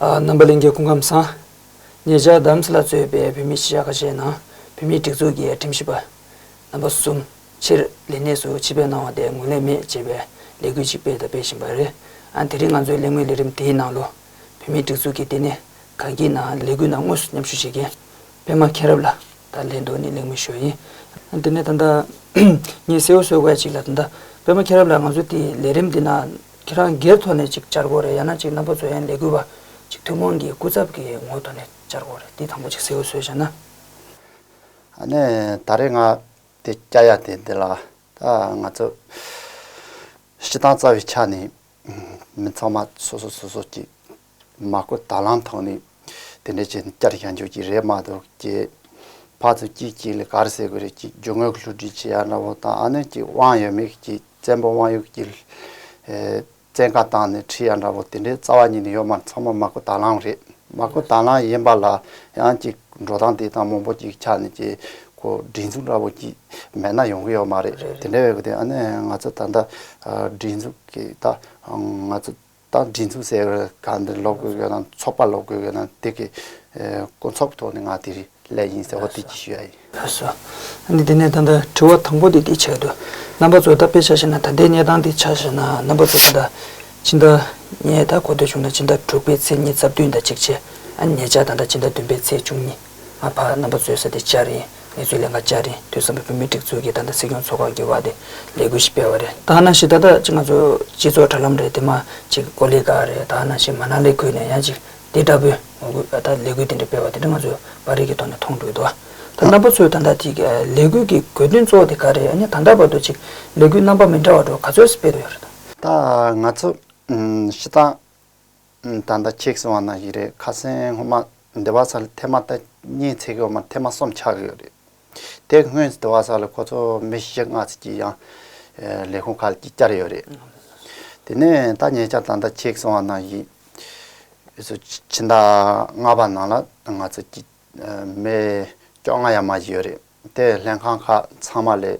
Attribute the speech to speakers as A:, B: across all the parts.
A: རྣམ་པ་གླིང་གི་སྐུ་ཁམས་བཟང། ཉེ་ཆར་དམ་སྲི་ལ་གཙོས་པའི་བོད་མི་ཤི་ཡ་ཁ་ཤས་ནང་བོད་མིའི་སྒྲིག་འཛུགས་ཀྱི་ཁྲིམས་ཞིབ་པ་རྣམ་པ་གསུམ་ཕྱིར་ལས་གནས་སུ་ཕྱི་འབེབས་གནང་བ་དེ་ངོས་ལེན་མེད་ཅེས་པའི་ལས་འགུལ་ཞིག་སྤེལ་དང་སྤེལ་བཞིན་པ་རེད། དེ་རིང་ང་ཚོས་གླེང་མོལ་ལས་རིམ་དེའི་ནང་ལོ་བོད་མིའི་སྒྲིག་འཛུགས་ཀྱི་ལྟེ་གནས་གངས་སྐྱིད་ནང་ལས་འགུལ་ནང་དངོས་སུ་མཉམ་ཞུགས་བྱེད་མཁན་པད་མ་མཁྱེན་རབ་ལ་ད་ལན་དུ་ནི་གླེང་མི་ཤོད་ཡིན། དེ་ནས་ད་ལྟ། ངས་གསལ་བོ་གསོལ་བ་ཞིག་ལ་ད་ལྟ། པད་མ་མཁྱེན་རབ་ལ་ང་ཚོ་དེའི་ལས་རིམ་འདི་ན། ཁྱེད་རང་སྒེར་ཐོག་ནས་ཅིག་བཅར་དགོས་རེད་ཡང་ན་ཅིག་རྣམ་པ་ཚོ་ཡན་ལས་གུས་པ། ཅིག་ཐུན་མོང་གི་སྐུ་ཚབ་ཀྱི་ངོ་ཐོག་ནས་བཅར་དགོས་རེད་དེ་དང་པོ་ཅིག་གསལ་བོ་གསོལ་བྱས་ན།
B: ཨ་ནི་ད་རེས་ང་དེ་སྐྱ་ཡ་དེ་འདི་ལ་ད་ང་ཚོ། སྤྱི་བཏང་རྩ་བའི་ཆ་ནས། མི་ཚང་མ་སོ་སོ་སོ་སོ་ཅིག། མ་བཀོད་དྭ་ལང་ཐོག་ནས་དེ་འདྲའི་ཆེད་བསྐྱར་བཞག་འཇོག་གྱི་རེད་མ་གཏོགས་ཀྱི། ཕག་ཏུ་སྐྱིད་སྐྱིད་ལས་གར་ཟེར་དགོས་རེད་ཀྱི་རྒྱུ་དངོས་བསླུ་བྲིད་བྱེད་ཡག་ན་བོ་དང་ཨ་ནུ་ཀྱི་དབང་ཡོད་མེད་ཀྱི་བཙན་པོ་དབང་ཡོད་ཀྱི་བཙན་བཀའ་བཏང་ནས་ཁྲིད་ཡག་ན་བོ་དེ་འདྲའི་རྩ་བ་ཉིད་ནས་ཡོད་མ་ཚང་མ་མ་བཀོད་དྭ་ལང་རེད་མ་བཀོད་དྭ་ལང་ཡིན་པ་ལ་ཡང་ཀྱི་འགྲོ་སྟངས་དེ་དང་མང་པོ་ཀྱི་ཆ་ནས་ཀྱི་གོ་སྒྲིག་འཛུགས་འདྲ་བོ་ཀྱི་མེད་ན་ཡོང་གི་ཡོད་མ་རེད་དེ་འདྲ་བས་ཀྱི་ཨ་ནུ་ང་ཚོ་ད་ལྟ་སྒྲིག་འཛུགས་ཀྱི་ད་ང་ཚོ་ད་འབྲི་མཚམས་གསལ་བའི་སྒང་འདིར་ལོག་དགོས་ཀྱི་ཡོད་ན་ཚོགས་པར་ལོག་དགོས་ཀྱི་ཡོད་ན་དེ་གི་དཀོན་མཚོག་གི་ཐོག་ནས་ང་དེ་རིང་སླད་ཡིན་ཟེར་བ་དེ་གྱིས་ཞུ་ཡ་ཡིན། ད་གཟོད།
A: ནི་དེ་ནས་ད་ལྟ་དྲི་བ་དང་པོ་དེ་འདི་བྱས་དུས། རྣམ་པ་ཚོས་ད་དཔེ་ཆ་ཤེས་ན་ད་ལྟའི་གནས་སྟངས་འདི་ཆ་ཤེས་ན་རྣམ་པ་ཚོས་ད་ལྟ་ཕྱི་ཟླ་ཉའི་ཟླ་གོ་ཐོས་བྱུང་ན་ཕྱི་ཟླ་དྲུག་པའི་ཚེས་གཉིས་རྩ་བདུན་ཟླ་གཅིག་བྱས། ཨ་ནི་ཉེ་ཆར་ད་ལྟ་ཕྱི་ཟླ་བདུན་པའི་ཚེས་བཅུ་གཉིས། ང་ཕ་རྣམ་པ་ཚོའི་ས་དེ་ལྕགས་རི་ཡིན། ངེད་ཚོའི་ལས་འགའ་ལྕགས་རི་དུད་ཚང་གི་བུད་མེད་སྒྲིག་འཛུགས་ཀྱིས་ད་ལྟ་སྲིད་སྐྱོང་ཚོགས་ཁག་གི་དབར་དེ་ལས་འགུལ་ཞིག་སྤེལ་བ་རེད། ད་ནང་བཞིན་ད་ལྟ་ཅིག་ང་ཚོའི་སྤྱི་ཚོགས་དྲ་ལམ་རེད་དེ་མ་ཅིག་ཀོ་ལི་ཀཱ་རེད་ད་ནང་བཞིན་མ་ནག་ལས་འགུལ་ནས་ཡང་ཅིག་འདི་ལྟ་བུའི་ངོ་རྒོལ་ཨ་ད་ལས་འགུལ་དེ་འདྲ་སྤེལ་བ་དེ་འདྲ་ང་ཚོས་པར་རིས་ཀྱི་ཐོག་ནས་མཐོང་འདུག་དོ་ད་རྣམ་པ་ཚོས་ད་ལྟ་དེ་ལས་འགུལ་གྱི་དགོས་དོན་གཙོ་བོ་དེ་ག་རེད་ཡང་སྙིང་ད་ལྟ་བར་དུ་ཅིག་ལས་འགུལ་རྣམ་པ་མི་འདྲ་བ་འགྲོ་ག་ཚོད་སྤེལ་དུ་ཡོད་རེད་དམ། ད་ང་
B: ཚོས་ཤི་སྟངས་ད་ལྟ་ཁྱེད་གསུང་བ་ན་ཞིག་རེད་ཁ་སེང་སྔོན་མ་འདི་བ་ས་ལ་ཐེ་མ་ཐ་སྙད་ཚིག་གི་འོག་མ་ཐེ་མ་གསུམ་ཆགས་ཡོད་རེད་དེ་སྔོན་འདི་བ་ས་ལ་ཁོ་ཚོ་མི་བཞི་ལྔ་ཚིག་གི་ཡང་ལས་ཁུངས་ཁག་ལ་ཅིག་ཅར་ཡོད་རེད་དེ་ནས་ད་ཉེ་ཆར་ད་ལྟ་ཁྱེད་གསུང་བ་ན་ཞིག་ཕྱི་ཟླ་ལྔ་པ་ནང་ལ་ང་ཚོ་ཀྱི་མི་བཅོ་ལྔ་ཡ་མ་བཞི་ཡོད་རེད། དེ་ལྷན་ཁང་ཁག་ཚང་མ་ལས་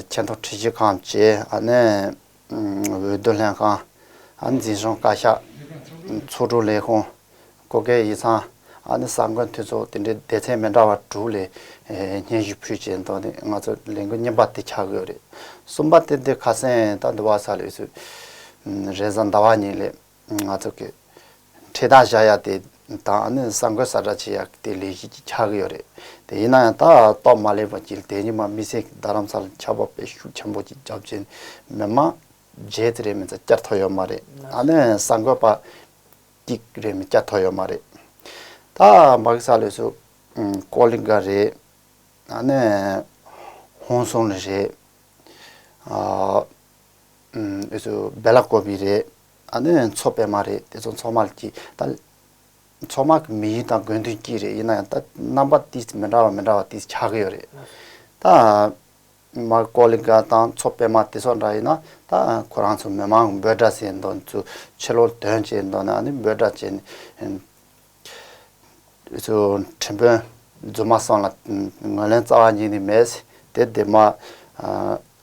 B: ཆེ་མཐོ་ཁྲི་བཞི་ཁང་བཅས་འོས་བསྡུ་ལྷན་ཁང། འཛིན་སྐྱོང་བཀའ་ཤག། ཚོགས་དྲུང་ལས་ཁུངས། བགོ་སྐལ་ཡིག་ཚང། ས་མགོན་འཐུས་ཚོགས་དེ་འདྲའི་སྡེ་ཚན་མི་འདྲ་བ་དྲུག་ལས་སྙན་ཞུ་ཕུལ་རྗེས་མདོ་ནས་ང་ཚོ་ལས་འགུལ་རྙིང་པ་དེ་ཆགས་དགོས་རེད་གསུངས་པ་དེ་འདི་ཁ་སེང་ད་འདི་བ་ས་ལས་སུ་རེས་གཟའ་ཟླ་བ་གཉིས་ལས་ང་ཚོ་གི་འཕྲེད་དང་བཞག་ཡག་དེ་དང་ནི་ས་འགོད་ས་བསྒྲགས་བྱེད་ཡག་གི་དེ་ལས་གཞི་གྱི་ཆགས་གི་ཡོད་རེད་དེ་ཡིན་ན་ཡང་ད་གཏོགས་མ་སླེབས་པ་གྱིས་དེ་ཉིན་མ་མི་སེར་གྱི་རྡ་རམ་ས་ལ་ཆགས་པ་པའི་ཤུགས་ཆེན་པོ་གྱི་རྒྱབ་རྗེས་མི་མང་བརྒྱད་ཙི་རེ་མི་ཚ་བསྐྱར་ཐོ་ཡོད་མ་རེད་ཨ་ནི་ས་འགོད་པ་གཅིག་རེ་མི་བསྐྱར་ཐོ་ཡོད་མ་རེད་ད་མ་གི་ས་ལོས་སུ་ཀོ་ལི་འགའ་རེད་ཨ་ནི་ཧོང་སུང་ལི་རེད་ཨ། འོས་ཚོ་སྦེ་ལ་ཀོ་བི་རེད། ཨ་ནུ་ཡང་ཚོ་སྦེ་མ་རེད་དེ་ཚོ་ཚོགས་མ་ལ་སྐྱིད། ད། ཚོགས་མ་གི་མི་ཡིན་ད་དགོས་འདུན་སྐྱིད་རེད་ཡིན་ན་ཡང་ད་རྣམ་པ་དེ་མི་འདྲ་བ་མི་འདྲ་བ་དེ་ཆགས་ཀྱི་ཡོད་རེད། ད། མར་ཀོ་ལི་གྷ་དང་ཚོ་སྦེ་མ་དེ་ཚོ་འདྲ་ཡིན་ན་ད་ཁོ་རང་ཚོ་མི་མང་འབོད་སྒྲ་བྱེད་འདོད་ཚོ་ཕྱི་ལོག་དོན་བྱེད་འདོད་ན་ནི་འབོད་སྒྲ་བྱེད། འོས་ཚོ་ཁྲིམས་དཔོན་རྫུན་མ་སང་ལ་ངོས་ལེན་རྩ་བ་ཉིད་ནས་མེད་དེ་དེ་མ།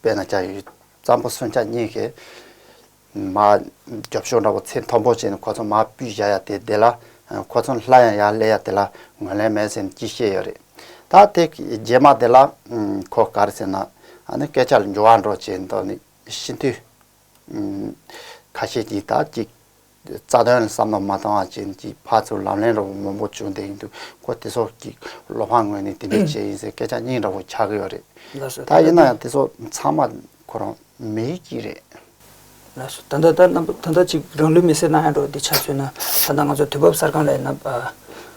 B: དཔེར་ན་རྒྱ་ཡུལ་གཙང་པོ་སོན་ཆ་གཉིས་ཀྱི་མ་རྒྱབ་ཤོག་འདྲ་བོ་ཚེ་མཐོན་པོ་བྱས་ནས་ཁོ་ཚོ་མ་སྤུས་བཞག་ཡ་དེ་བདེ་ལ། ཁོ་ཚོ་ལྷ་ཡང་ཡར་སླེ་ཡ་དེ་ལ་ངོས་ལེན་མེད་ཟེར་ནས་ཅི་བཤད་ཡོད་རེད། ད་དེ་རྗེས་མ་དེ་ལ་ཁོ་ག་རེ་ཟེར་ན། ཨ་ནི་སྐད་ཆ་ལ་འགྱུར་བ་འགྲོ་བྱས་མདོག་ནི་ཤིན་ཏུ་ཁ་ཤས་ཀྱིས་དག་ཅིག། རྩ་དོན་བསམ་བློ་མ་བཏང་བ་ཅན་གྱི་ཕ་ཚུར་ལམ་ལྷན་ར་བོ་མང་པོ་བྱུང་བསྡད་ཡིན་འདུག་གོ་དེ་སོགས་ཀྱི་བློ་ཕམ་ངོས་ནས་དེ་འདྲའི་བྱས་ཡིན་ཟེར་སྐད་ཆ་སྙིང་ར་བོ་འཁྱག་གི་ཡོད་རེད་ད་ཡིན་ན་ཡང་དེ་སོགས་ཚང་མ་ཁོ་རང་མི་ཡིད་ཀྱི་རེད། ལ་
A: སོ་ད་ལྟ་ད་རྣམ་པ་ད་ལྟ་ཅིག་རང་ལུས་མེ་སྲེག་གནང་ཡ་འགྲོ་འདི་ཆ་མཚོན་ན་ད་ལྟ་ང་ཚོ་དུས་བབ་གསར་ཁང་ལས་ན་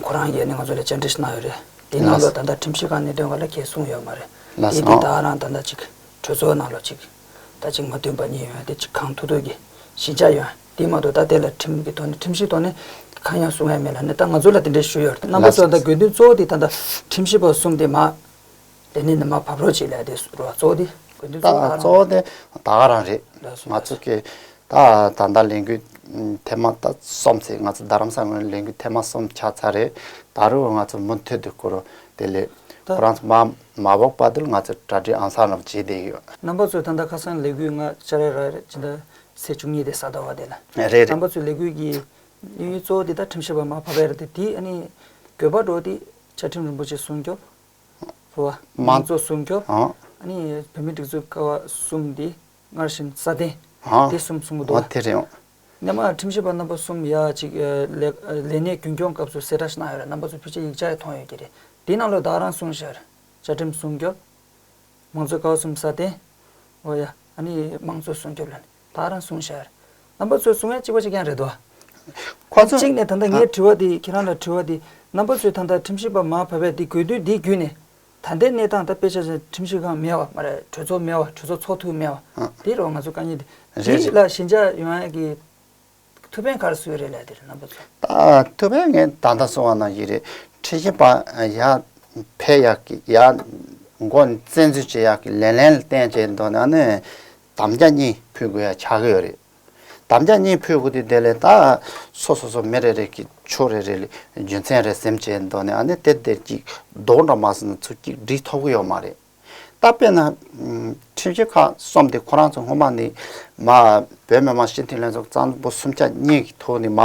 A: ཁོ་རང་ཡས་ནས་ང་ཚོ་ལས་བཅར་འདྲི་ཞིག་གནང་ཡོད་རེད་དེ་གནང་ལོ་ད་ལྟ་ཁྲིམས་གཞི་ཁང་གནད་དོན་ག་ལ་ཁྱེད་གསུང་ཡོད་མ་རེད་དེ་དེ་དག་རང་ད་ལྟ་ཅིག་གྲོས་ཚོགས་ནང་ལོ་ཅིག། ད་ཅིག་མ་བསྟུན་པ་གཉིས་ཡོན་ཏན་གྱི་གང་ཐུགས་འདོད་ཀྱི་ཞི་འཇགས་ཡོན་ཏན་མ་གཏོགས་ད་ལྟའི་ལ་ཁྲིམས་ཀྱི་ཐོག་ནས་ཁྲིམས་ཤིག་ཐོག་ནས་གང་ཡང་བཟོ་ངེས་མེད་ལ་ནི་ད་ང་ཚོ་ལ་དེ་འདྲའི་ཞུ་ཡོད་རེད་ན་མ་གཏོགས་ད་དགོས་འདུན་གཙོ་བོ་དེ་ད་ལྟ་ཁྲིམས་ཞིབ་པ་གསུམ་དེ་མ་དེ་ནས་ནི་མ་བབས་རོགས་གཅིག་ལས་དེ་རུ་བ་གཙོ་བོ་དེ་དགོས་འདུན་གཙོ་བོ་གཙོ་བོ་
B: དེ་ད་ག་རང་རེད་ང་ཚོ་གི་ད་ད་ལྟ་ལས་འགུལ་ཐེངས་མ་ད་གསུམ་ཟེར་ང་ཚོ་རྡ་རམ་ས་ངོས་ལས་འགུལ་ཐེངས་མ་གསུམ་ཆགས་ཚར་རེད་ད་རུ་བ་ང་ཚོ་མུ་མཐུད་དུ་བསྐུར་རོགས་དེ་ལས་ཁོ་རང་ཚོ་མ་མ་བོག་པ་དུལ་ང་ཚོ་གྲ་སྒྲིག་ཨང་སང་རང་བྱེད་བསྡད་ཡོད། རྣམ་པ་ཚོས་ད་ལྟ་ཁ་
A: སང་ལས་འགུལ་ང་ཅར་རེ་ར་རེ་ཇི་འདྲ་ཚེས་བཅུ་གཉིས་དེ་ས་ད་བ་དེ་ལ། རེད་རེད། རྣམ་པ་ཚོས་ལས་འགུལ་
B: གྱི་
A: དབྱིན་ཡུལ་གཙོ་བོ་དེ་ད་ཁྲིམས་ཞིབ་པ་མ་བྷ་བྷེ་ར་དེ་དེ་ཨ་ནི་བོད་པ་འགྲོ་དེ་བཅའ་ཁྲིམས་རིན་པོ་ཆེ་སྲུང་སྐྱོབ། བྷ་བྷ། མང་གཙོ་སྲུང་སྐྱོབ། ཨ་ནི་བོད་མི་སྒྲིག་འཛུགས་ཀ་བ་གསུམ་དེ་སྔར་བཞིན་ས་སྟེང། སྡེ་གསུམ་གསུང་
B: གི་འདུག་ལ། ནས་མ་ཁྲིམས་ཞིབ་
A: པ་རྣམ་པ་གསུམ་ཡ་གཅིག་ལས་ལས་གནས་རྒྱུན་སྐྱོང་སྐབས་སུ་གསལ་བསྒྲགས་གནང་ཡོད་རེད་རྣམ་པ་ཚོ་ཕྱི་ཆ་ཡིག་ཆ་ཡང་མཐོང་ཡོད་ཀྱི་རེད་དེའི་ནང་ལོ་དྭགས་རང་སྲུང་ཤར། བཅའ་ཁྲིམས་སྲུང་སྐྱོབ། མང་གཙོ་ཀའོ་གསུམ་ས་སྟེང། འོ་ཡ། ཨ་ནི་མང་གཙོ་སྲུང་སྐྱོབ་ལ་ནི་དྭགས་རང་སྲུང་ཤར། རྣམ་པ་ཚོས་གསུང་ཡ་གཅིག་པ་ཅིག་ཀྱང་རེད་དོ། ཁོ་ཚོ། གཅིག་ནས་ད་ལྟ་ངས་དྲི་བ་འདི་ཁྱེད་རང་ལ་དྲི་བ་འདི་རྣམ་པ་ཚོས་ད་ལྟ་ཁྲིམས་ཞིབ་པ་མ་བྷ་བྷས་འདི་དགོས་དུས་འདི་བརྒྱུད་ནས་ད་ལྟའི་གནས་སྟངས་ལྟར་དཔེ་ཆ་ཟེར་ཁྲིམས་ཞིབ་ཁང་མེད་བ་མ་རེད་གྲོས་ཚོགས་མེད་བ་གྲོས་ཚོགས་ཚོགས་འཐུས་མེད་བ་དེའི་རོགས་ང་ཚོ་དཀའ་ཉེ་རེད་འདི་ལ་ཞི་འཇགས་ཡོང་ཡ་གི་ཐུ་བེན་གར་སོའི་རེད་ལ་དེ་རེད་ནང་པ་ཚོ། ད་ཐུ་བེན་
B: ངའི་ད་ལྟ་སོང་བ་ན་ཡི་རེད་ཁྲི་ཞིན་པ་ཡ་ཕེ་ཡ་གི་ཡ་མགོ་བཙན་འཛུལ་བྱེད་ཡ་གི་ལེ་ལན་ལ་བསྟན་བྱེད་མདོ་ན་ནི་དམ་བཅའ་གཉིས་ཕུལ་དགོས་ཡ་ཆགས་ཀྱི་ཡོད་རེད། དམ་བཅའ་གཉིས་ཕུད་བུ་དེ་དེ་ལས་ད། སོ་སོ་སོ་མི་རེ་རེ་གི་ཕྱོགས་རེ་རེ་ལས་རྒྱུ་མཚན་རེ་སེམས་བྱས་མདོ་ནས་ཨ་ནི་དེ་དེར་གྱིས་བདོག་འདྲ་མ་ཟིན་ན་ཚུར་གྱིས་འདྲིས་ཐོབ་གི་ཡོད་མ་རེད། ད་དཔེར་ན། ཁྲིམས་ཞིབ་ཁག་གསུམ་དེ་ཁོ་རང་ཚོ་སྔོན་མ་ནས། མ། བོད་མི་མང་སྤྱི་འཐུས་ལྷན་ཚོགས་གཙང་པོ་སུམ་ཆ་གཉིས་ཀྱི་ཐོག་ནས་མ།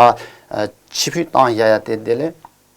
B: ཕྱི་ཕུད་བཏང་ཡ་ཡ་དེ་དེ་ལས།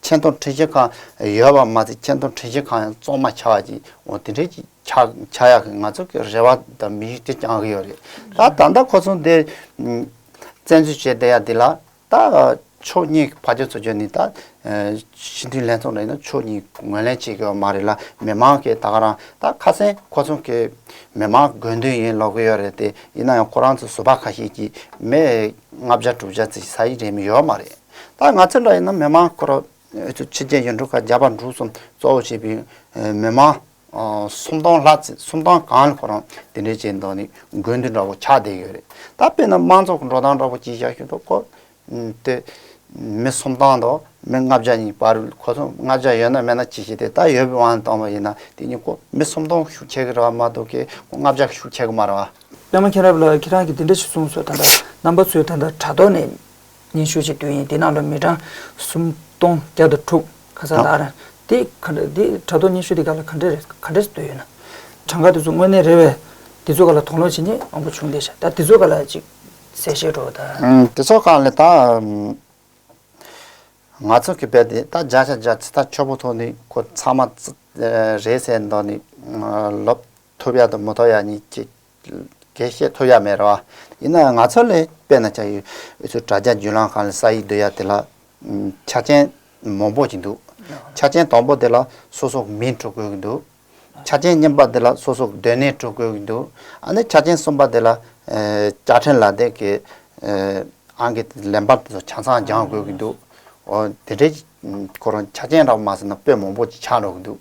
B: ཆེ་མཐོང་འཕྲི་བྱེད་ཁང་ཡོད་པ་མ་ཚད་ཆེ་མཐོང་འཕྲི་བྱེད་ཁང་ཡང་བཙོང་མ་ཆག་བ་ཅིག་འོ་དེ་འདྲའི་ཅིག་ཆག་ཡག་གི་ང་ཚོ་གི་རེ་བ་དང་མི་གཞི་དེ་བསྐྱང་གི་ཡོད་རེད་ད་ད་ལྟ་ཁོ་ཚོ་འདི་བཙན་འཛུལ་བྱས་བསྡད་ཡ་འདི་ལ་ད་ཕྱོགས་གཉིས་ཀྱི་ཕ་ཆོས་ཚོ་ཆོས་ནི་ད་སྤྱི་འཐུས་ལྷན་ཚོགས་རེད་ན་ཕྱོགས་གཉིས་ངོས་ལེན་བྱེད་དགོས་པ་མ་རེད་ལ་མི་མང་གི་ད་ག་རང་ད་ཁ་གསེང་ཁོ་ཚོ་གི་མི་མང་དགོས་འདུན་ཡིན་ལོག་གི་ཡོད་རེད་དེ་ཡིན་ན་ཡང་ཁོ་རང་ཚོ་བཟོ་པ་ཁ་ཤས་ཀྱིས་མི་ལྔ་བརྒྱ་དྲུག་བརྒྱ་ཚིག་ཟ་ཡི་རེད་མི་ཡོད་མ་རེད། ད་ང་ཚོ་འདྲ་ཡིན་ན་མི་མང་སྐོར་ཕྱི་རྒྱལ་ཡུལ་གྲུ་ཁག་བརྒྱ་པ་འབྲུག་གསུམ་གཙོ་བོ་བྱས་པའི་མི་མང་སུམ་སྟོང་ལྷག་ཚེ་སུམ་སྟོང་གང་ལ་ཁོ་རང་དེ་འདྲའི་བྱས་འདུག་ནི་དགོས་འདུན་འདྲ་བོ་ཆགས་བསྡད་ཡོད་རེད་ད་དཔེར་ན་དམངས་གཙོ་འགྲོ་སྟངས་འདྲ་བོ་སྤྱི་བཞག་ཞུས་འདུག་གོ་དེ་མི་སུམ་སྟོང་དང་མི་ལྔ་བརྒྱ་གཉིས་པར་ཁོ་ཚོ་ལྔ་བརྒྱ་ཡོད་ན་མེད་ན་ཅི་བྱེད་དེ་ད་ཡོད་པའི་དབང་དང་བ་ཡིན་ན་དེ་གཉིས་ཀོ་མི་སུམ་སྟོང་ཤུགས་ཆེ་གི་རེ་བ་མ་གཏོགས་ཀི་ཁོ་ལྔ་བརྒྱ་ཤུགས་ཆེ་གི་མ་རེད་བ། པད་མ་མཁྱེན་རབ་ལགས་
A: ཁྱེད་རང་གིས་འདི་འདྲ་ཞིག་གསུངས་སོ་ད་ལྟ་རྣམ་པ་ཚོས་ད་ལྟ་དྲ་ཐོག་ནས། སྙན་ཞུ་གཅིག་དུས་ཡིན་དེ་ནང་ལོ་མི་གྲངས་སུམ་སྟོང་བརྒྱ་དང་དྲུག་ཁ་ཚ་དྭ་རེད། དེ་ག་འདྲ་དེ་དྲ་ཐོག་སྙན་ཞུ་དེ་ག་ལ་ག་འདྲ་རེད་ག་འདྲ་འདོད་ཡོད་ན། གྲངས་ཀ་དེ་ཚོ་དངོས་གནས་རེད་བས་དེ་ཚོ་ག་ལ་དོགས་སློང་བྱེད་ནི་མང་པོ་བྱུང་བསྡད་ཤག་ད་དེ་ཚོ་ག་ལ་ཅིག་གསལ་བཤད་སྒྲོག་ད། དེ་ཚོ་གང་ལས་ད།
B: ང་ཚོ་གི་བས་དེ་ད་བརྒྱ་ཆ་བརྒྱ་ཚིག་ཐག་ཆོད་པོ་ཐོག་ནི་ཁོ་ཚང་མ་རེད་ཟེར་མདོག་ནི་ལོབས་ཐུབ་ཡ་དང་མི་ཐོགས་ཡ་གཉིས་ཀྱི་དགེ་བཤེས་ཐོ་ཡག་མེད་རེད་བ། ཡིན་ནའང་ང་ཚོ་ལས་དཔེ་ན་ཆ་ཡོད་འུ་ཚོའི་དྲ་རྒྱ་འཇུ་ལང་ཁང་ལས་ས་ཡིག་བསྡུ་ཡག་དེ་ལ་ཆ་ཆེན་མང་པོ་ཅིག་འདུག་ཆ་ཆེན་དང་པོ་དེ་ལ་སོ་སོ་མིང་སྤྲོ་དགོས་ཀྱི་འདུག་ཆ་ཆེན་གཉིས་པ་དེ་ལ་སོ་སོ་སྡོད་གནས་སྤྲོ་དགོས་ཀྱི་འདུག་ཨ་ནི་ཆ་ཆེན་གསུམ་པ་དེ་ལ་བཅའ་ཁྲིམས་ལ་དེ་གི་ཨང་ཀི་ལེན་པར་དེ་ཚོ་ཆ་ཚང་སྦྱང་དགོས་ཀྱི་འདུག་འོ་དེ་འདྲའི་སྐོར་ཆ་ཆེན་རག་མ་ཟེར་ན་དཔེ་མང་པོ་ཅིག་ཆགས་འགྲོ་གི་འདུག།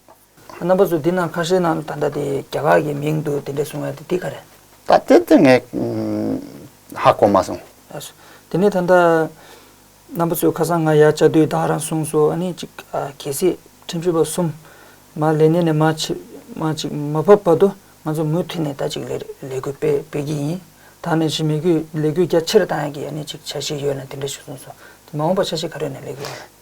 B: རྣམ་པ་ཚོས་འདི་
A: ནང་ཁ་ཧྲེ་ནང་ད་ལྟ་དེ་རྒྱ་གར་གྱི་མིང་འདུག་དེ་འདྲས་གསུང་བ་དེ་འདི་ག་རེད། ད་དེ་དེ་ངས་
B: ཧ་གོ་མ་སོང། དེ་ནས་
A: ད་ལྟ་རྣམ་པ་ཚོས་ཁ་སང་ང་ཡར་བཅར་དུས་བདག་རང་གསུངས་སོ་ཨ་ནི་གཅིག་གལ་སྲིད་ཁྲིམས་ཞིབ་པ་གསུམ་མ་ལས་གནས་ནས་མ་གཅིག་མ་བབས་བར་དུ་ང་ཚོ་མུ་མཐུད་ནས་ད་གཅིག་ལས་འགུལ་སྤེལ་གྱི་ཡིན། ད་ནས་བཞིན་མི་རྒྱུད་ལས་འགུལ་རྒྱ་ཆེར་གཏང་ཡག་གི་ཨ་ནི་གཅིག་བྱ་ཞིག་ཡོད་ན་དེ་འདྲས་ཞུ་གསུངས་སོ། དེ་མ་འོངས་པར་ཆ་ཤས་ག་རེ་ནས་ལས་འགུལ་ཡོང།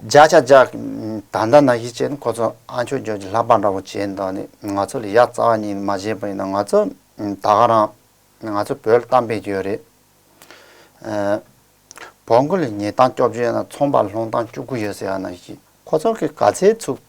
B: བརྒྱ་ཆ་བརྒྱ། ད་ལྟ་ན་གཞི་བྱས་ནས་ཁོ་ཚོ་ཨ་ཆོས་རྒྱོ་རྒྱུ་ལྷག་པ་འདྲ་བོ་བྱས་འདུག་ནས་ང་ཚོ་ལ་ཡ་རྩ་བ་ཉིད་མ་བྱས་པ་ཡིན་ན་ང་ཚོ་ད་ག་རང་ང་ཚོ་བོད་ལ་གཏམ་དཔེ་རྒྱུ་ཡོད་རེད། བོང་གུ་ལ་ཉལ་སྟངས་སྐྱོབ་རྒྱུ་ཡོད་ན་ཚོང་པ་ལ་སློང་སྟངས་སྐྱུག་གུ་ཡོད་ཟེར་བ་ན་གཞི་ཁོ་ཚོ་གི་ག་ཚད་ཚུགས།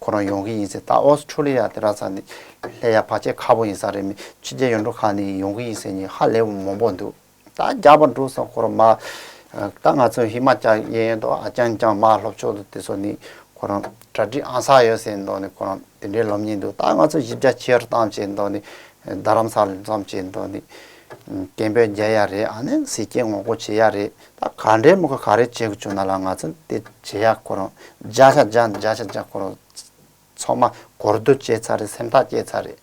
B: ཁོ་རང་ཡོང་གི་ཡིན་སེ་ད་ཨོ་སི་ཁྲུ་ལི་ཡ་དེ་ར་ས་ནི་ལྷད་ཡ་བ་ཆེ་ཁ་པོ་ཡིན་ས་རེད་མི་ཕྱི་རྒྱལ་ཡོང་འགྲོ་ཁ་ནི་ཡོང་གི་ཡིན་སེ་ཉི་ཧ་ལེ་བ་མང་པོ་འདུག་ད་རྒྱ་བ་འགྲོ་ས་ཁོ་ར་མ་ད་ང་ཚོ་ཧི་མ་ཅལ་ཡན་ཡན་དུ་ཨ་ཅང་ཅང་མ་ལྷོ་ཕྱོགས་དུ་དེ་ཚོ་ནི་ཁོ་རང་གྲ་སྒྲིག་ཨང་ས་ཡོད་སེ་མདོག་ནི་ཁོ་རང་དེ་འདྲའི་ལོབ་ཉེན་འདུག་ད་ང་ཚོ་བཞི་བརྒྱ་ཁྱེར་བཏང་བྱེད་མདོག་ནི་རྡ་རམ་ས་ལ་འཛོམས་བྱེད་མདོག་ནི་སྐད་འབོད་རྒྱལ་ཡ་རེད་ཨ་ནི་ཟི་སྐད་ངོ་རྒོལ་བྱེད་ཡ་རེད། ད་ག་འདྲའི་མི་ཁ་ག་རེ་བྱེད་དགོས་བྱུང་ན་ལ་ང་ཚོ་དེ་བྱེད་ཡག་ཁོ་རང་བརྒྱ་ཆ་བརྒྱ་བརྒྱ་ཆ་བརྒྱ་ཁོ་རང་ཚོགས་མ་གོ་བསྡུར་བྱས་ཚར་རེད་སེམས་ཐག་བཅད་ཚར་རེད།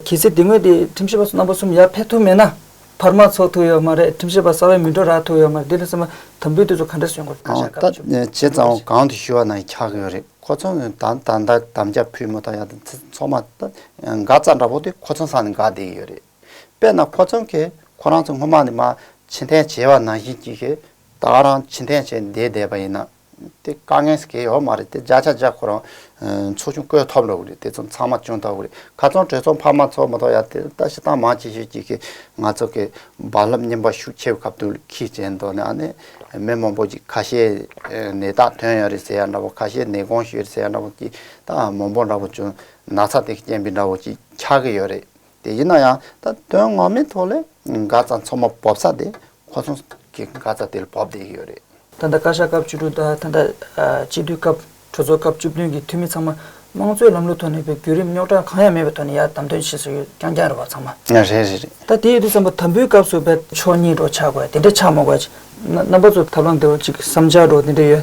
B: གལ་སྲིད་དེ་སྔོན་
A: དེ་ཁྲིམས་ཞིབ་པ་ཚོ་རྣམ་པ་གསུམ་ཡར་ཕེབས་ཐུབ་མེད་ན་བར་མ་ཚོགས་ཐུབ་ཡོད་མ་རེད་ཁྲིམས་ཞིབ་པ་གསར་བའི་མི་འགྲོ་རག་ཐུབ་ཡོད་མ་རེད་དེ་ལས་སེམས་པ་དམ་འབུལ་དེ་ཚོ་ག་འདྲ་བྱེད་དགོས་ད་ཆ་ག་རེ་བྱེད་དགོས་བྱས་
B: ཙང་གང་དུ་ཞུ་བ་ན་ཁྱག་གི་ཡོད་རེད་ཁོ་ཚོ་ནི་ད་ད་ལྟ་དམ་བཅའ་ཕུལ་མོ་ད་ཡག་ཚོགས་མ་ད་འགའ་རྩ་འདྲ་པོ་དེ་ཁོ་ཚོ་ས་ནས་འགའ་བསྡད་ཡོད་རེད། དཔེར་ན་ཕོ་ཚང་གིས་ཁོ་རང་ཚོ་སྔོན་མ་ནས་མ་ཕྱི་འཐེན་བྱས་པ་ནང་བཞིན་གྱིས་ཤིག་ད་རང་ཕྱི་འཐེན་བྱས་བསྡད་བསྡད་པ་ཡིན་ན་དེ་དཀའ་ངལ་ཞིག་སྐྱེ་ཡོད་མ་རེད་དེ་བརྒྱ་ཆ་བརྒྱ་ཁོ་རང་ཚོ་ཆུང་བསྐོས་ཐོབ་ལོ་རེད་དེ་ཚོ་ཚང་མ་ཅུང་ཐོབ་རེད་ག་ཚོང་གྲོས་ཚོགས་འཕར་མ་ཚོགས་མི་ཐོག་ཡ་དེ་ལྟ་བྱེད་སྟངས་མང་ཅི་ཞིག་གྱིས་ཤིག་ང་ཚོ་གི་རྦ་རླབས་རྙིང་པ་ཤུགས་ཆེ་བའི་ཁབ་ཏུ་ཁིས་བྱས་མདོག་ནས་ཨ་ནི་མི་མང་པོ་ཅིག་ཁ་ཤས་ནད་རྟགས་ཐོན་ཡོད་རེད་ཟེར་ཡ་འདྲ་བོ་ཁ་ཤས་ནད་གོང་ཞུས་རེད་ཟེར་ཡ་འདྲ་བོ་ཀྱིས་ད་མང་པོ་འདྲ་བོ་ཅུང་ན་ཚ་དེ་ཀྱི་རྐྱེན་པས་འདྲ་བོ་ཅིག་ཆགས་ཀྱི་ཡོད་རེད། དེ་ཡིན་ན་ཡང་ད་དོན་ངོ་མའི་ཐོག་ལ་འགག་རྩ་མཚོ་མོ་འབོབ་ས་དེ་ཁོ་ཚོ་གི་འགག་རྩ་དེ་ལ་འབོབ་བསྡད་ཡོད་རེད། ད་ལྟ་བཀའ་ཤག་སྐབས་བཅུ་
A: དྲུག་དང་ད་ལྟ་སྤྱི་འཐུས་སྐབས་གྲོས་ཚོགས་སྐབས་བཅུ་བདུན་གྱི་འཐུས་མི་ཚང་མ་དམངས་གཙོའི་ལམ་ལུགས་ཐོག་ནས་པའི་བརྒྱུད་རིམ་རྙོག་དྲ་གང་ཡང་མེད་པའི་ཐོག་ནས་ཡར་དམ་དོན་བྱེད་སྲོལ་ཡོད་རྐྱང་རྐྱང་རེད་བ་ཚང་མ། རེད་རེད་རེད། ད་དེ་
B: ཡོད་དུས་བསམ་པ་
A: དམ་འབུལ་སྐབས་སུ་བལ། ཕྱོགས་གཉིས་སྒྲོག་ཆགས་དགོས་དེ་འདྲས་ཆགས་མ་དགོས། རྣམ་པ་ཚོ་ཐབས་ལམ་དེ་བ་ཅིག་བསམ་འཆར་སྒྲོག་དེ་འདྲས་ཡོད།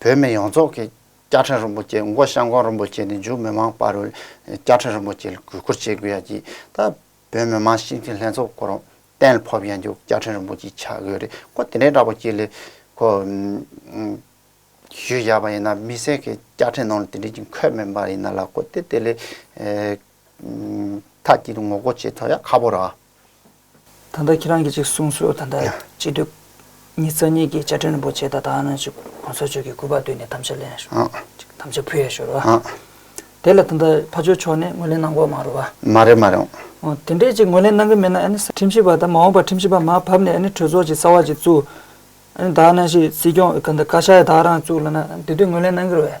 B: བོད་མི་ཡོངས་རྫོགས་ཀྱིས་བསྐྱར་ཕྲེང་རིན་པོ་ཆེ་མགོ་བཤམས་གོང་རིན་པོ་ཆེ་ནི་འཇུ་མི་མང་པར་བསྐྱར་ཕྲེང་རིན་པོ་ཆེ་ལ་གུས་བཀུར་བྱེད་དགོས་ཡ་གྱིས་ད་བོད་མི་མང་སྤྱི་འཐུས་ལྷན་ཚོགས་སྐོར་རོང་གཏན་ལ་ཕོབ་ཡ་འཇུ་བསྐྱར་ཕྲེང་རིན་པོ་ཆེ་ཆགས་དགོས་རེད་ཁོ་དེ་འདྲའི་འདྲ་པོ་ཅིག་ལས་ཁོ་ཞུས་བཞག་པ་ཡིན་ན་མི་སེར་གྱི་བསྐྱར་ཕྲེང་ནང་ལ་དེ་འདྲའི་ཅིག་འཁོད་མེད་པ་ཡིན་ན་ལ་ཁོ་དེ་དེ་ལས་ཐ་གྱིས་ངོ་རྒོལ་བྱེད་ཐུབ་ཡ་ཁ་པོ་ར། ད་
A: ལྟ་ཁྱེད་རང་གིས་ཅིག་གསུངས་སོ་ད་ལྟ་སྤྱི་སྡོད་གཉིས་རྩ་གཉིས་ཀྱི་བཅའ་ཁྲིམས་རིན་པོ་ཆེ་ད་ལྟ་ནང་ཆོས་གོང་ས་མཆོག་གིས་སྐུ་པར་བཏོན་ནས་དམ་བཅའ་ལེན་ཞོར་ཅིག་དམ་བཅའ་ཕུལ་ཡས་ཞོར་བ། དེ་ལ་ད་ལྟ་ཕ་ཆོས་མཆོག་ནས་ངོས་ལེན་གནང་དགོས་མ་རུང་བ། མ་རེད་མ་རེད།
B: དེ་འདྲས་
A: ཅིག་ངོས་ལེན་གནང་གི་མེད་ན་ཨ་ནི་ས། ཁྲིམས་ཞིབ་པ་དང་མ་འོངས་པར་ཁྲིམས་ཞིབ་པ་མ་ཕབ་ནས་ཨ་ནི་གྲོས་ཚོགས་ཀྱི་རྩ་བ་ཅིག་བཙུགས། ཨ་ནི་དག་ནང་བཞིན་སྲིད་སྐྱོང་གི་བཀའ་ཤག་ཡང་དག་རང་བཙུགས་ལ་ན་དེ་དུས་ངོས་ལེན་གནང་གི་རེད།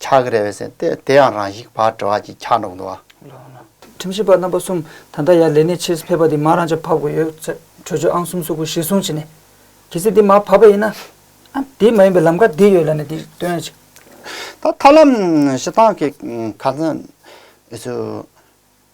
B: ཆགས་ཀྱི་རེད་བས་སེམས་ཏེ་དེ་ཡང་རང་བཞིན་བག་གྲོ་བ་ཅིག་ཆགས་འགྲོ་གི་འདུག་བ། ཁྲིམས་ཞིབ་
A: པ་རྣམ་པ་གསུམ་ད་ལྟ་ཡར་ལས་གནས་ཕྱིར་ཕེབས་པ་འདི་མ་རང་ཅག་ཕབ་དགོས་ཡོད་ཚད་གྲོས་ཆོད་ཨང་གསུམ་སོ་དགུ་གཞིར་བཟུང་བྱས་ནས་གལ་སྲིད་འདི་མ་ཕབ་པ་ཡིན་ན་ཨང་དེ་མ་ཡིན་པའི་ལམ་ཁ་འདི་ཡོད་ལ་ནས་འདི་སྟོན་ཡ་ཅིག། ད་ཐབས་
B: ལམ་ཞིག་བཏང་གི་ཁ་ཚོན།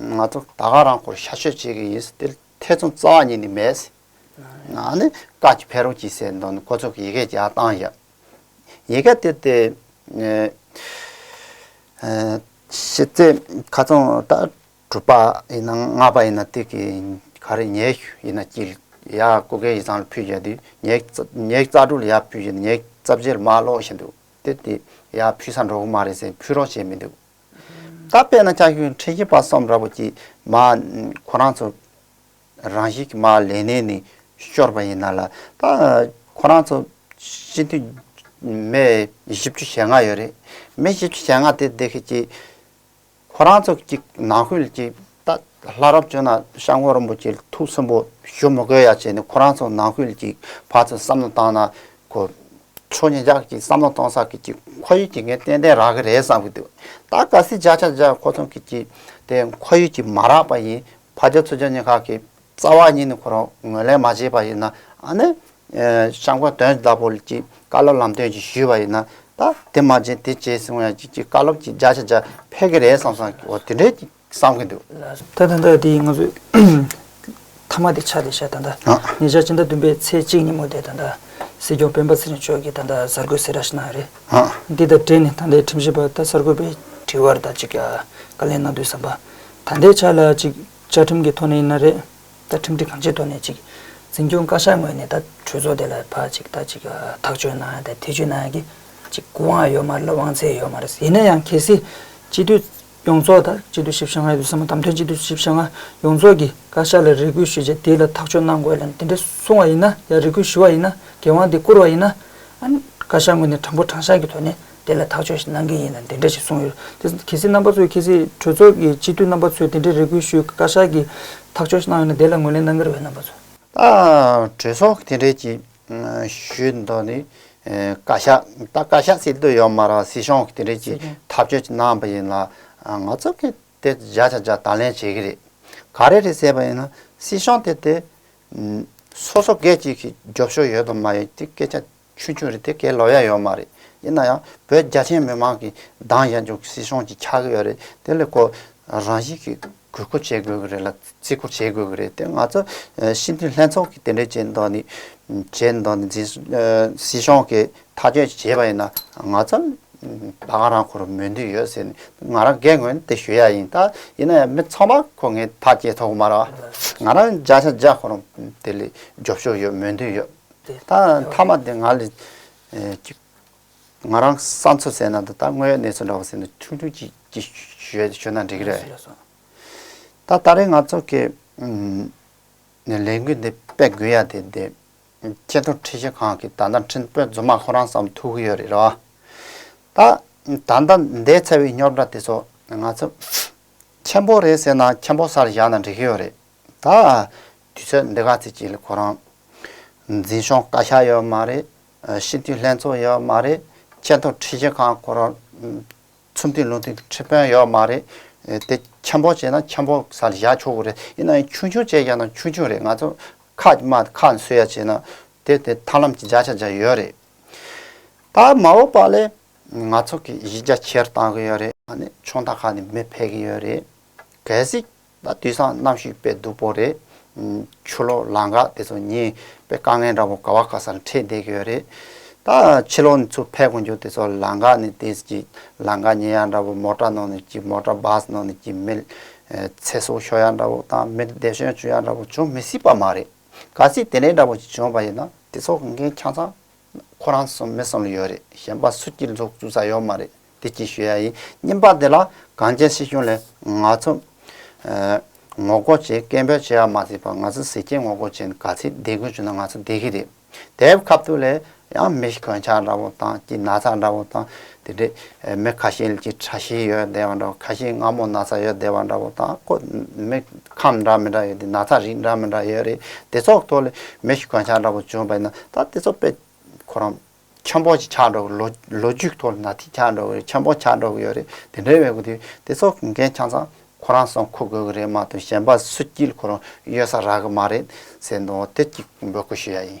B: ང་ཚོ་ད་ག་རང་སྐོར་ཤ་ཤོད་བྱེད་ཀྱི་ཡིན་ཟེར་ཏེ་ཐེ་ཚོམ་རྩ་བ་ཉིད་ནས་མེད། ང་ནི་བཀའ་ཀྱི་འཕེལ་རོགས་གྱིས་ཟེར་འདུག་ཁོ་ཚོ་གིས་ཡི་གེ་རྒྱག་སྟངས་བཞག་ཡི་གེ་དེ་དེ་ཤེས་ཚེ་ཁ་ཚོང་ད་དྲུག་པ་ཡིན་ན་ལྔ་པ་ཡིན་ན་དེ་གི་ག་རེ་ཉེ་ཡིན་ན་གྱིས་ཡ་སྐུ་སྒེར་ཡིག་ཚང་ལ་ཕུལ་བཞག་ཉེ་རྩ་དྲུག་ལ་ཡ་ཕུལ་བཞག་ཉེ་རྩ་བཞི་ལ་མ་ཀློག་བཞིན་འདུག་དེ་དེ་ཡ་ཕུལ་ས་འགྲོ་གི་མ་རེད་ཟེར་ཕུལ་རོགས་བྱས་མི་འདུག་ད་དཔེར་ན་ཅག་ཁྱོད་འཕྲལ་གྱི་བར་གསུམ་ར་བུ་ཀྱི་མ། ཁོ་རང་ཚོ་རང་བཞིན་གྱི་མ་ལས་ནས་ནི་ཤོར་བ་ཡིན་ན་ལ། ད་ཁོ་རང་ཚོ་སྤྱི་འཐུས་མི་བཞི་བཅུ་ཞེ་ལྔ་ཡོད་རེད། མི་བཞི་བཅུ་ཞེ་ལྔ་དེ་འདི་སྐད་ཅེས། ཁོ་རང་ཚོ་གི་ནང་ཁུལ་གྱི་རྟགས། ལྷ་རབ་བྱོན་ན་ཤངས་ཁོག་རིན་པོ་ཆེ་ཐུགས་སུན་པོ་ཞུ་མི་དགོས་ཡ་བྱས་ནས་ཁོ་རང་ཚོ་ནང་ཁུལ་གྱི་བར་དུ་བསམ་བློ་བཏང་ན་ཁོ་ཆོས་ཉིད་ཅག་གིས་བསམ་བློ་གཏོང་ས་ཁུལ་གྱི་ཁོར་ཡུལ་གྱི་ངས་ཏན་ཏན་རག་གི་རེད་བསམ་གྱི་འདུག་ད་ག་སྲིད་བརྒྱ་ཆ་བརྒྱ་ཁོ་ཚོ་གིས་ཀྱིས་དེ་ཁོར་ཡུལ་གྱི་མ་རག་པ་ཡིན་ཕ་རྒྱ་ཚུ་རྒྱ་གཉིས་ཁག་གི་རྩ་བ་ཉིད་ནས་ཁོ་རང་ངོས་ལེན་མ་བྱས་པ་ཡིན་ན་ཨ་ནི། ཤངས་ཁོག་དོན་བདག་པོ་ཀྱིས་བཀའ་སློབ་ལམ་སྟོན་ཅིག་ཞུས་པ་ཡིན་ན་ད་དེ་མ་བྱས་དེ་བྱས་ཟེར་ཡང་ཀྱིས་ཀྱིས་བཀའ་སློབ་ཀྱིས་བརྒྱ་ཆ་བརྒྱ་ཕེལ་གི་རེད་བསམ་བསམ་གྱི་འོ་དེ་འདྲའི་བསམ་གྱི་འདུག། ད་ད་ལྟ་དེ་
A: ང་ཚོས་མཐའ་མ་དེ་ཆ་དེ་ཤ་ད་ད་ཉེ་ཆར་ཕྱི་ཟླ་བདུན་པའི་ཚེས་གཅིག་ཉིན་མོ་དེ་ད་ད་སྲིད་སྐྱོང་སྤེན་པ་ཚེ་རིང་མཆོག་གིས་ད་ད་གསར་འགོད་སེ་ར་ཞིག་གནང་རེད། དེ་དང་འབྲེལ་ནས་ད་ལྟའི་ཁྲིམས་ཞིབ་པ་དང་གསར་འགོད་པའི་དྲི་བར་ད་ཅིག་བཀའ་ལན་གནང་དུས་བསམ་པ། ད་ལྟའི་ཆ་ལ་ཅིག་བཅའ་ཁྲིམས་ཀྱི་ཐོག་ནས་ཡིན་ན་རེད། ད་ཁྲིམས་སྒྲིག་གང་ཅིའི་ཐོག་ནས་ཅིག་འཛིན་སྐྱོང་བཀའ་ཤག་ངོས་ནས་ད་གྲོས་ཚོགས་དེ་ལ་ཕ་ཅིག་ད་ཅིག་ཐག་གཅོད་གནང་ཡང་ཐེ་ཇུས་གནང་ཡང་གི་ཅིག་གུ་དབང་ཡོད་མ་རེད་ལ་དབང་ཚད་ཡོད་མ་རེད་ཡིན་ན་ཡང་གལ་སྲིད་སྤྱི་འཐུས་ཡོངས་རྫོགས་དང་སྤྱི་བསྡུ་ཞིབ་བཤེར་ལྔའི་དུས་ཟིང་མ་དམ་དོན་སྤྱི་བསྡུ་ཞིབ་བཤེར་ལྔ་ཡོངས་རྫོགས་ཀྱི་བཀའ་ཤག་ལ་རེ་སྐུལ་ཞུས་རྗེས་དེ་ལ་ཐག་གཅོད་གནང་དགོས་ལན་དེ་འདྲ་གསུང་བ་ཡིན་ན་ཡང་རེ་སྐུལ་ཞུ་བ་ཡིན་ན་འགན་དབང་དེ་བསྐུར་བ་ཡིན་ན། བཀའ་ཤག་ངོས་ནས་དྲང་པོ་དྲང་གཞག་གི་ཐོག་ནས་དེ་ལ་ཐག་གཅོད་ཞིག་གནང་གི་ཡིན་ལན་དེ་འདྲ་ཞིག་གསུང་ཡོད་རེད་དེ་གལ་སྲིད་རྣམ་པ་ཚོས་གལ་སྲིད་གྲོས་ཚོགས་ཀྱི་སྤྱི་འཐུས་རྣམ་པ་ཚོས་དེ་འདྲའི་རེ་སྐུལ་ཞུས་བཀའ་ཤག་གིས་ཐག་གཅོད་ཞིག་གནང་ཡོད་ན་དེ་ལ་ངོས་ལེན་གནང་གི་རེད་རྣམ་པ་ཚོས། གྲོས་
B: ཚོགས་དེ་འབྲེལ་གྱི་ཞུས་མདོ་ནི་བཀའ་ཤག་ད་བཀའ་ཤག་སྲིད་དུ་ཡོད་མ་རང་སྲིད་གཞུང་གི་དེ་འདྲས་ཀྱི་ཐག་གཅོད་ཀྱི་གནང་བ་ཡིན་ལ་ང་ཚོ་གི་དེ་བཞག་བཞག་བཞག་དང་ལེན་བྱེད་ཀྱི་རེད་ག་རེ་རེད་ཟེར་བ་ཡིན་ན་སྲིད་གཞུང་དེ་དེ་སོ་སོ་སྒེར་གཅིག་གི་རྒྱོབ་ཤོར་ཡོད་དང་མ་ཡོད་དེ་སྐད་ཆ་ཆུང་ཆུང་རེད་དེ་སྐད་ལོག་ཡ་ཡོད་མ་རེད་ཡིན་ན་ཡང་བོད་རྒྱ་ཆེན་མི་མང་གི་འདང་བཞག་རྒྱུ་སྲིད་གཞུང་གི་ཆག་གི་ཡོད་རེད་དེ་ལས་ཀོ་རང་བཞིན་གི། གུས་བཀུར་བྱེད་དགོས་ཀྱི་རེད་ལ་བརྩི་བཀུར་བྱེད་དགོས་ཀྱི་རེད་དེ་ང་ཚོ་སྤྱི་འཐུས་ལྷན་ཚོགས་ཀྱིས་དེ་འདྲའི་བྱས་མདོག་ནི་བྱས་མདོག་ནི་སྲིད་གཞུང་གིས་ཐག་གཅོད་བྱས་པ་ཡིན་ན་ང་ཚོ་ད་ག་རང་ཁུ་རུ་མོས་འདོད་ཡོད་ཟེར་ནས་ང་རང་སྒེར་ངོས་ནས་དེ་ཞུ་ཡག་ཡིན་ད་ཡིན་ན་ཡང་མི་ཚང་མ་ཁོ་ངའི་ཐག་བཅད་ཐུབ་ཀྱི་མ་རེད་ང་རང་བརྒྱ་ཆ་བརྒྱ་ཁོ་རང་དེ་ལས་རྒྱོབ་ཤོག་ཡོད་མོས་འདོད་ཡོད་ད་མཐའ་མ་དེ་ང་ལས་ང་རང་ས་མཚོ་ཟས་ནང་དུ་ད་སྔོན་གནས་ཚུལ་འདྲ་བ་ཟེར་ནས་ཁྲུང་ཁྲུང་ཅིག་ཅིག་ཞོད་ཞོད་ན་འགྲིག་གི་རེད། ད་ད་རེས་ང་ཚོ་གི་ནས་ལས་འགུལ་འདི་སྤེལ་དགོས་ཡ་དེ་དེ་སྐྱེ་རྡོར་ཁྲི་ཤེས་ཁང་གི་ད་ད་འཕྲིན་སྤོལ་རྫུན་མ་ཁོ་རང་བསམ་ཐུག་གི་ཡོད་རེད་རོ། ད་ད་ད་འདས་ཚར་བའི་རྙོག་དྲ་དེ་ཚོ་ང་ཚོ་ཁྱད་འཕོག་རེད་ཟེར་ན་ཁྱད་འཕོག་སར་བཞག་ན་འགྲིག་གི་ཡོད་རེད། ད་དུས་ཚོད་འདི་ག་ཚོད་ཅིག་ལ་ཁོ་རང་འཛིན་ཤོང་བཀའ་ཤག་ཡོད་མ་རེད་སྤྱི་འཐུས་ལྷན་ཚོགས་ཡོད་མ་རེད། ཆེས་མཐོ་ཁྲི་ཆེ་ཁང་སྐོར་ཚུར་འཐུས་ལུང་འཐུས་ཁྲི་དཔོན་ཡོད་མ་རེད། དེ་འཁྱམ་པོ་བྱས་ན་འཁྱམ་པོ་ས་ལ་བཞག་ཆོག་གི་རེད་ཡིན་ན་ཡང་ཆུང་ཆུང་བྱས་ཀྱང་ན་ཆུང་ཆུང་རེད་ང་ཚོ་ཁ་དམའ་ཁ་ནས་སུ་ཡ་བྱས་ན་དེ་དེ་ཐར་ལམ་གྱི་བརྒྱ་ཆ་བརྒྱ་ཡོད་རེད། ད་མ་འོ་པ་ལས་ང་ཚོ་གི་གཞི་རྒྱ་ཆེར་བཏང་གི་ཡོད་རེད་ཨ་ནི་ཆུང་མཐའ་ཁག་ནས་མི་ཕེད་གི་ཡོད་རེད་གལ་སྲིད། ད་དུས་སང་གནམ་གཤིས་དཔེ་སྡུག་པོ་རེད། ཆུ་ལོག་ལ་འགག་དེ་ཚོ་ཉིན་དཔེ་དཀའ་ངལ་འདྲ་པོ་ག་བ་ག་སར་འཕྲད་བསྡད་ཀྱི་ཡོད་རེད། ད་ཕྱི་ལོག་ནས་ཆུ་འཕེལ་གོང་རྒྱུ་དེ་ཚོ་ལ་འགག་ནས་དེ་ཅི་ལ་འགག་ཉེ་ཡ་འདྲ་པོ་མོ་ཏྲ་ནང་ནས་ཀྱི་མོ་ཏྲ་བཱས་ནང་ནས་ཀྱི་མིལ་ཚེ་སྲོག་ཤོར་ཡ་འདྲ་པོ་དང་མིལ་བདེ་ཤོན་བྱུང་ཡ་འདྲ་པོ་བྱུང་མི་སྲིད་པ་མ་རེད། ག་ཚིག་དེ་འད་འདྲ་པོ་ཅིག་བྱུང་བ་ཡིན་ན་དེ་ཚོ་གི་འགན་ཁྱང་ཚང་ཁོ་རང་གསུམ་མི་གསུམ་ལ་ཡོད་རེད་གཞན་པ་སུ་ཀྱིས་འཛུགས་བཅུག་ས་ཡོད་མ་རེད། དེ་སྐྱིད་ཞུ་ཡ་ཡིན་སྙམ་པ་འདི་ལ་གངས་ཅན་སྲིད་གཞུང་ལས་ང་ཚོ་ངོ་རྒོལ་བྱེད་སྐད་འབོད་བྱེད་ཡ་མ་ཟིག་པ་ང་ཚོ་གཟི་སྐྱེད་ངོ་རྒོལ་བྱེད་ག་ཚིག་བསྡད་དགོས་བྱུང་ན་ང་ཚོ་བསྡད་གི་རེད་དེབ་ཁ་བཏུ་ལས་ཡང་མི་གོད་འཆག་འདྲ་བོ་དང་སྐྱིད་ན་ཚ་འདྲ་བོ་དང་དེ་འདྲས་མི་ཁ་ཤེལ་གྱི་ཁྲ་ཤིས་ཡོད་བསྡད་བ་འདྲ་བོ་ཁ་ཤིས་སྔ་མོ་ན་ཚ་ཡོད་བསྡད་བ་འདྲ་བོ་དང་ཁོ་མི་ཁམས་འདྲ་མི་འདྲ་ཡོད་དེ་ན་ཚ་རིགས་འདྲ་མི་འདྲ་ཡོད་རེད་དེ་ཚོགས་ཐོག་ལས་མི་གོད་འཆག་འདྲ་བོ་བྱུང་བས་ན་ད་དེ་ཚོ་དཔེ་ཁོ་རང་ཆང་ཕོར་ཞིག་ཆག་འགྲོ་གི་ལོ་རྒྱུས་ཐོག་ན་དེ་ཆག་འགྲོ་གི་རེད་ཆང་ཕོར་ཆག་འགྲོ་གི་ཡོད་རེད་དེ་འདྲའི་བས་དེ་དེ་ཚོ་གི་འགན་ཆང་ཚང་ཁོ་རང་སོང་ཁུར་དགོས་གི་རེད་མ་གཏོགས་གཞན་པ་སུ་སྐྱིད་ཁོ་རང་གཡོལ་ས་རག་གི་མ་རེད་ཟེར་འདུག་དེ་གཅིག་འབོད་སྐུལ་ཞུ་ཡ་ཡིན།